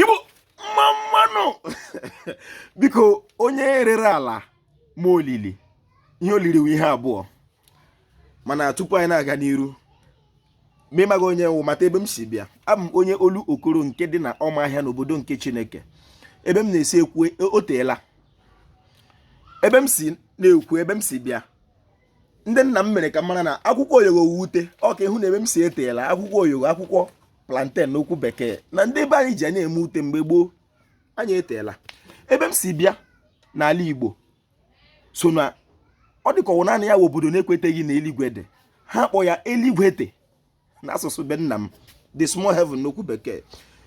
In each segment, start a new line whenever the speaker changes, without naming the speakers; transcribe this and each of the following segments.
igbo mma mma nụ biko onye rere ala ma olili ihe olili wụ ihe abụọ mana tupu anyị na-aga n'iru ma ịmaghị onye m wụ mata ebe m si bịa abụ m onye Olokoro nke dị na ọmahịa n'obodo nke chineke ebe m na-esi ekwu o teela ebe m si na-ekwu ebe m si bịa ndị nna m mere ka m mara na akwụkwọ oyogo wụ ute ọka ịhụ na ebe m si eteela akwụkwọ oyogo akwụkwọ plantain n'okwu bekee na ndị be anyị ji ya eme ute mgbe gboo anyị eteela ebe m si bịa n'ala Igbo so na ọ dịka ọwụ naanị ya wụ obodo na-ekweteghị na eluigwe dị ha kpọ ya eluigwe nta n'asụsụ be nna m the small heaven n'okwu bekee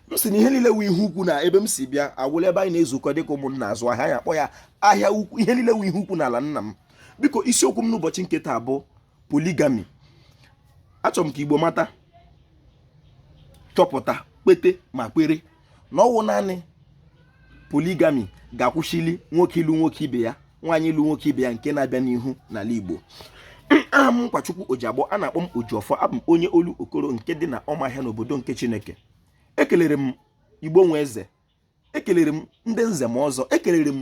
m si na ihe niile wụ ihe ukwu na ebe m si bịa ọwụla ebe anyị na-ezukọ dịka ụmụnna azụ ahịa anyị akpọ ya ahịa ukwu ihe niile wụ ihe ukwu n'ala nna m biko isiokwu m n'ụbọchị nke taa bụ polygamy achọrọ m ka igbo mata chọpụta kpete ma kwere na ọwụ naanị polygamy ga-akwụsịli nwoke ịlụ nwoke ibe ya nwaanyị ịlụ nwoke ibe ya nke na-abịa n'ihu n'ala Igbo aha m Nkwachukwu Ojiagbọ a na-akpọ m Ojiọfọ abụ m onye Olokoro nke dị na ọmahịa n'obodo nke Chineke ekelere m Igbo nwe eze ekelere m ndị nze ma ọzọ ekelere m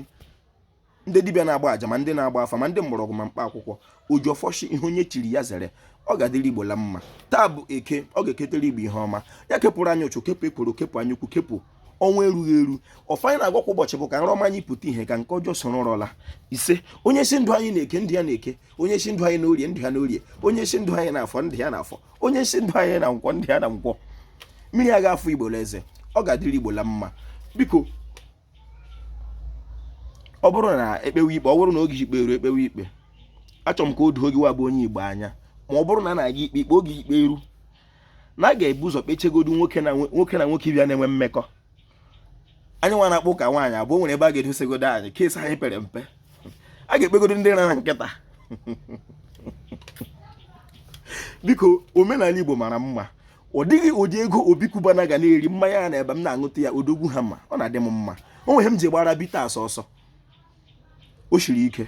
ndị dibịa na-agba aja ma ndị na-agba afa ma ndị mgbọrọgwụ ma mkpa akwụkwọ Ojiọfọ shị ihe onye chiri ya zere ọ ga-adịrị igbo la mma taa bụ eke ọ ga-eketere igbo ihe ọma ya kepụrụ anyị ụchụ kepụ ekworo kepụ anya ukwu kepụ ọnwa erughị eru ọfọ anyị na-agọ kwa ụbọchị bụ ka nrọ ọma anyị pụta ihe ka nke ọjọọ soro nrọ laa ise onye sị ndụ anyị na eke ndụ ya na eke onye sị ndụ anyị na orie ndụ ya na orie onye sị ndụ anyị na afọ ndụ ya na afọ onye sị ndụ anyị na nkwọ ndụ ya na nkwọ mmiri aga afọ igbo eze ọ ga-adịrị igbo la mma biko ọ bụrụ na ekpewe ikpe ọ bụrụ na oge ikpe eru ekpewe ikpe achọrọ m ka o doo gị wa bụ onye igbo anya ma ọ bụrụ na a na-aga ikpe ikpe oge ikpe eru na a ga-ebu ụzọ kpechegodu nwoke na nwoke ibe ya na-enwe mmekọ anyị nwa na-akpọ ụka nwaanyị abụọ nwere ebe a ga-edosegodo anyị case anyị pere mpe a ga-ekpegodo ndị rara nkịta biko omenala igbo mara mma ọ dịghị ụdị ego Obi Cubana ga na-eri mmanya ya na ebe m na-aṅụta ya Odogwu Hammer ọ na-adị m mma o nwere ihe m ji gbara bitters ọsọ o shiri ike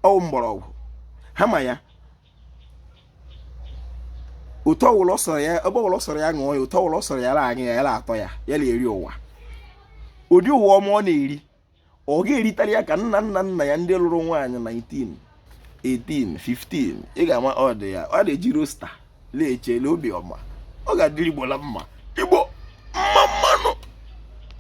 ọwụ mgbọrọgwụ Hammer ya ụtọ ọwụla sọrọ ya ebe ọwụla sọrọ ya ṅụọ ya ụtọ ọwụla sọrọ ya la aṅụ ya ya la atọ ya ya na-eri ụwa ụdị ụwa ọma ọ na-eri ọ ga-eritara ya ka nna nna nna ya ndị lụrụ nwaanyị 19 18 15 ị ga-ama ọ dị ya ọ na-eji roster na-echele obi ọma ọ ga-adịrị igbo la mma igbo mma mma nụ